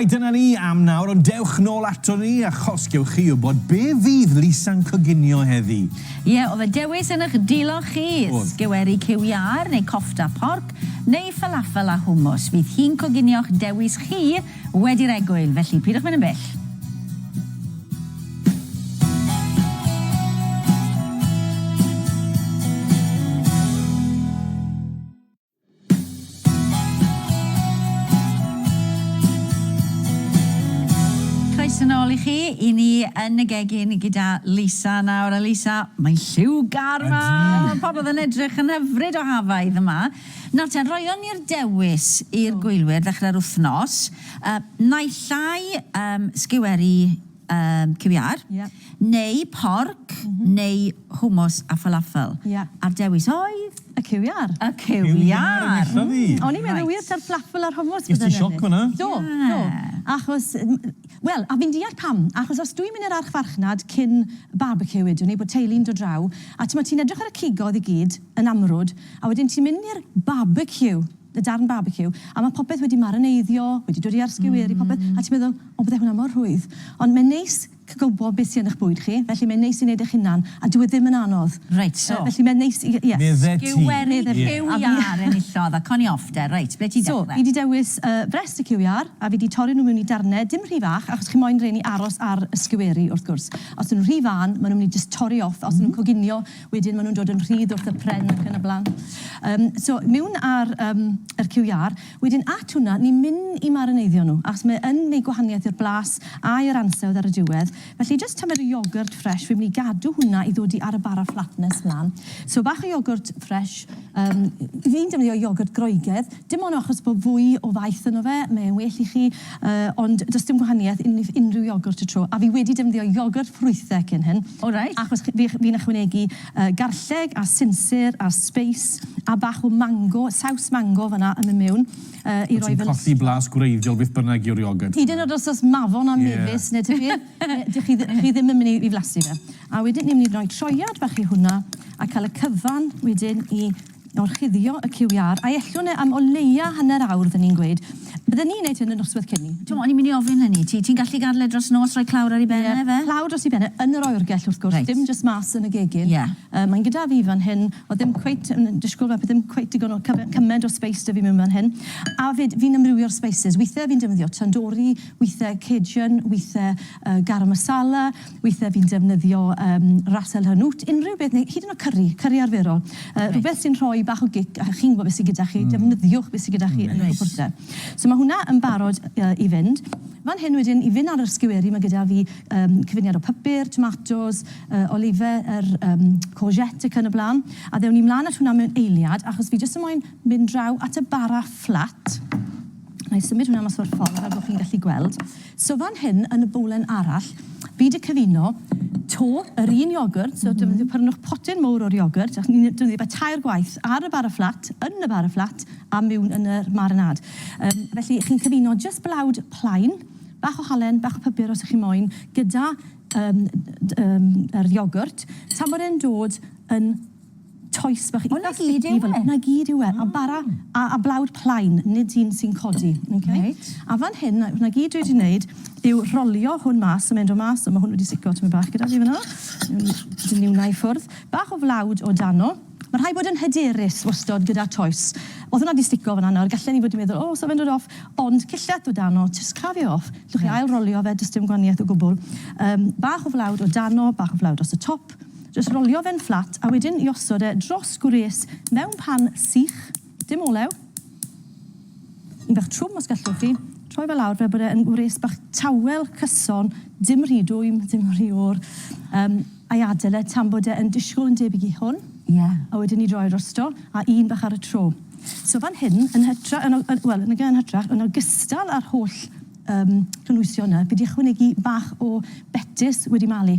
Dyna ni am nawr, ond dewch nôl aton ni a chosgewch chi wybod be fydd Lisa'n coginio heddi. Ie, oedd y dewis yn ych dilo chi, sgeweri cyw iâr neu cofta porc, neu falafel a hwmws. Fydd hi'n coginio'ch dewis chi wedi'r egwyl, felly pidwch mynd yn bell. Croeso nôl i chi, i ni yn y gegin gyda Lisa nawr, a Lisa, mae'n lliwgar 'ma! Ydi! Pobl yn edrych yn hyfryd o hafaidd yma. Nawr te, roion ni'r dewis i'r gwylwyr ddechrau'r wythnos, yy naill ai yym sgiweri, Yym, ciwiâr. Ie. Neu porc neu hwmws a falafel. Ie. A'r dewis oedd? Y ciwiâr. Y ciwiâr! Ciwiâr yn eitha fi. Mm, o'n i'n meddwl wir ta'r fflafel a'r hwmws fydde'n ennill. Ges ti sioc fan'na? Do, do. Achos, wel, a fi'n deall pam, achos os dwi'n mynd i'r archfarchnad cyn barbeciw wedwn ni, bod teulu'n dod draw, a t'mod ti'n edrych ar y cigoedd i gyd yn amrwd, a wedyn ti'n mynd i'r barbeciw. y darn barbeciw, a ma' popeth wedi marineiddio, wedi dod i ar sgewyr i popeth, a ti'n meddwl, o bydde hwnna mor rhwydd. Ond mae'n neis gwybod beth sy yn eich bwyd chi, felly mae'n neis i wneud eich hunan, a dyw e ddim yn anodd. Reit, so. Yy felly mae'n neis i, ie. Medde ti. Sgewyri cyw iâr enillodd, a co ni off de. Reit, ble ti'n dechrau? So, fi 'di dewis yy brest y cyw iâr, a fi 'di torri nhw mewn i darnau, dim rhy fach, achos chi moyn rheini aros ar y sgewyri, wrth gwrs. Os 'dyn nhw'n rhy fân, ma' nhw'n mynd i jyst torri off, os 'dyn nhw'n coginio, Wedyn maen nhw'n dod yn rhydd wrth y pren ac yn y blaen. Um, so, mewn ar um, yr QR, wedyn at hwnna, ni'n mynd i marineiddio nhw, achos mae yn gwneud gwahaniaeth i'r blas a i'r ansawdd ar y diwedd. Felly, just tymer y iogwrt ffres, fi'n mynd i gadw hwnna i ddod i ar y bara flatness mlaen. So, bach o iogwrt ffres, um, fi'n defnyddio iogwrt groegaidd, Dim ond achos bod fwy o faeth yno fe, mae e'n well i chi, ond does dim gwahaniaeth wrth unrhyw iogwrt y tro, a fi wedi defnyddio iogwrt ffrwythau cyn hyn, achos fi'n ychwanegu garlleg a sinsir a sbeis a bach o mango, saws mango fan'na yn mynd mewn i roi fy lustro. Wyt ti'n colli blas gwreiddiol beth bynnag yw'r iogwrt? Hyd yn oed os oes mafon a mefus neu tybir, dych chi ddim yn mynd i flasu fe. A wedyn ni'n mynd i roi troiad bach i hwnna a cael y cyfan wedyn i gorchuddio y cyw iâr, a'i ellwn e am o leia hanner awr, fydden i'n gweud. Bydden i'n neud hyn y nosweth cyn 'ny. T'mo', o'n i'n myn' i ofyn hynny. Ti, ti'n gallu gadl e dros nos, rhoi clawr ar 'i ben e, ife? Ie, clawr dros 'i ben e, yn yr oergell, wrth gwrs. Reit. Dim jyst mas yn y gegin. Ie. Yy, mae'n gyda fi fan hyn. O'dd dim cweit yn yn disgwl fe, ddim cweit digon o cyme- cyment o sbeis 'da fi mewn fan hyn. A 'fyd, fi'n amrywio'r sbeisys. Withe fi'n defnyddio tandoori, withe cajun, withe yy garam masala. Weithiau fi'n defnyddio yym ras el hanout, unrhyw beth, neu hyd yn oed cyri, cyri arferol. Yy rhywbeth sy'n rhoi bach o gic a chi'n gwybod beth sy gyda chi, defnyddiwch beth sy gyda chi yn y cwpwrder. So ma' hwnna yn barod yy i fynd. Fan hyn wedyn, i fynd ar yr sgiwery, ma' gyda fi yym cyfuniad o pypyr, tomatos, yy olife, yr yym courgette ac yn y bla'n. A ddewn ni mlan at hwnna mewn eiliad, achos fi jyst yn moyn mynd draw at y bara fflat. Nâi symud hwnna mas o'r ffordd fel bo' chi'n gallu gweld. So fan hyn yn y bowlen arall fi 'di cyfuno to yr un iogwrt, so defnyddio pyrnwch potyn mowr o'r iogwrt, achos ni'n defnyddio fe tair gwaith, ar y bara fflat, yn y bara fflat, a miwn yn yr marinade. Yym felly chi'n cyfuno jyst blawd plain, bach o halen, bach o pypyr os 'ych chi moyn, gyda yym d- yym yr iogwrt tan bod e'n dod yn toes bach eitha sticky fel 'na gyd yw e. A bara a, a blawd plaen, nid un sy'n codi. Okay? Reit. A fan hyn, 'na, 'na gyd dwi wedi wneud yw rolio hwn mas, a mynd o mas, a ma' hwn wedi stico tymed bach gyda fi fan'na. Dyn ni wnna i ffwrdd. Bach o flawd o dano. Ma' rhai bod yn hyderus wastod gyda toes. O'dd hwnna 'di stico fan'na nawr, gallen ni fod 'di meddwl, o, sa fe'n dod off, ond cillell o dano, jyst crafu e off. Reit. Allwch chi ail rolio fe, does dim gwanieth o gwbwl. Yym, bach o flawd o dano, bach o flawd dros y top. Jyst rolio fe'n fflat a wedyn i osod e dros gwres mewn pan sych, dim olew. Un bach trwm os gallwch chi. Troi fe lawr fel bod e yn wres bach tawel cyson, dim rhy dwym, dim rhy oer. Yym, a'i adael e tan bod e yn disgwyl yn debyg i hwn. Ie. A wedyn i droi'r rosto, a un bach ar y tro. So fan hyn, yn hytra- yn o- yn, wel, nage yn hytrach, yn ogystal â'r holl yym cynhwysion 'na, fi 'di ychwanegu bach o betys wedi malu.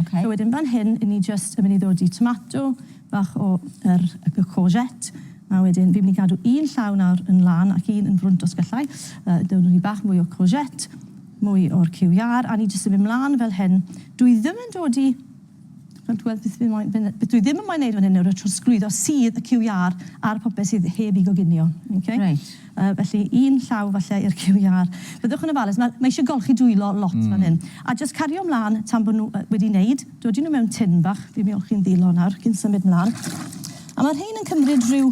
Ok. So wedyn fan hyn, ni jyst yn mynd i ddod i tomato, bach o yr y courgette, a wedyn fi'n mynd i gadw un llaw nawr yn lan ac un yn frwnt os gallai. Yy dewr ni bach mwy o courgette, mwy o'r cyw iâr, a ni jyst yn mynd mlan fel hyn. Dw i ddim yn dod i Wel dw i byth fi moyn fyn- beth dwi ddim yn moyn neud fan hyn nawr yw trosglwyddo sudd y cyw iâr ar popeth sydd heb 'i goginio. Ok? Reit. Yy, felly, un llaw falle i'r QR. Byddwch yn ofalus, ma', mae isie golchi dwylo lot fan hyn. A jyst cario mlan tan bo' nw yy wedi neud, dodi nw mewn tin bach, fi'n olchi'n ddwylo nawr cyn symud mlan. A ma' rhein yn cymryd rhyw,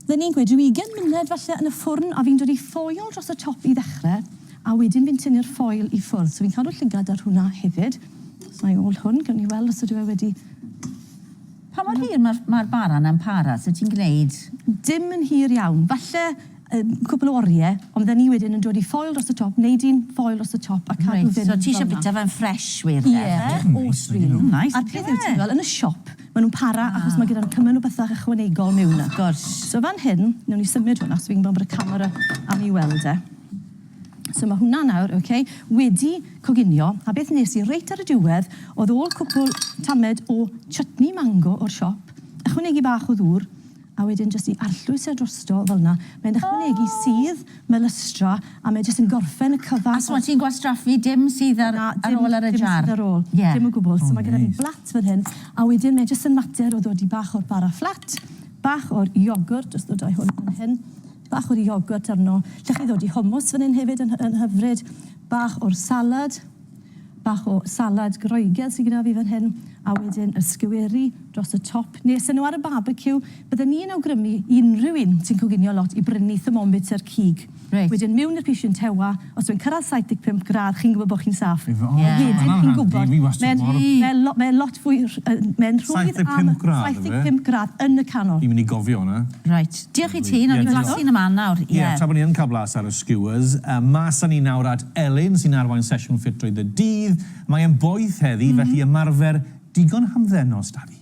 fydden i'n gweud ryw ugen munud falle yn y ffwrn, a fi'n dodi ffoil dros y top i ddechre, a wedyn fi'n tynnu'r ffoil i ffwrdd. So fi'n cadw llygad ar hwnna hefyd. Os 'na i ôl hwn, gewn ni weld os ydyw e wedi Pa mor hir mae'r mae'r bara 'na'n para? Sut ti'n gneud? Dim yn hir iawn. Falle yy cwpl o orie, ond fydden ni wedyn yn dod i ffoil dros y top, neud un ffoil dros y top a cadw fe fel 'na. Reit, so ti isio bita fe'n ffresh wir 'de? Ie, os dwi ddim. Neis. A'r peth yw ti'n gweld yn y siop, ma' nw'n para achos ma' gyda nw cymaint o bethe ychwanegol miwn 'na. Wrth gwrs. So fan hyn, newn ni symud hwn achos fi'n gwbo bod y camera am 'i weld e. So mae hwnna nawr, ok, wedi coginio, a beth nes i reit ar y diwedd oedd ôl cwpl tamed o chutney mango o'r siop, ychwanegu bach o ddŵr, a wedyn jyst i arllwys e drosto fel 'na. Mae'n ychwanegu sudd, mae lystra, a mae jyst yn gorffen y cyfan. A so ti'n gwastraffu dim sudd ar ôl ar y jar? Na, dim sudd ar ôl. Ie. Dim o gwbl. So mae gyda ni blat fel hyn, a wedyn mae jyst yn mater o ddodi bach o'r bara fflat, bach o'r iogwrt, jyst ddod â'i hwn fan hyn, Bach o'r iogwrt arno. Lle chi ddod i hummus fan hyn hefyd yn yn hyfryd. Bach o'r salad. Bach o salad Groegaidd sy gyda fi fan hyn, a wedyn y sgweri dros y top. Nes â nhw ar y barbeciw, bydden ni yn awgrymu i unrhyw un sy'n coginio lot i brynu thermometer cig. Reit. Wedyn miwn i'r pishyn tewa, os yw'n cyrraedd 75 gradd chi'n gwybod bod chi'n saff. Ie. Wedyn chi'n gwybod. Mae hwnna'n handi, fi wastad mor... Mae lo- mae lot fwy rh- yy mae'n rhwydd am... 75 gradd yfe? 75 gradd yn y canol. Fi'n mynd i gofio hwnna. Reit. Diolch i ti, nawn ni blasu yn y man nawr, ie. Ie, tra bod ni yn cael blas ar y skewers, mas â ni nawr at Elin sy'n arwain sesiwn ffit drwyth y dydd. Mae e'n boeth heddi, felly ymarfer digon hamddenol s'da fi.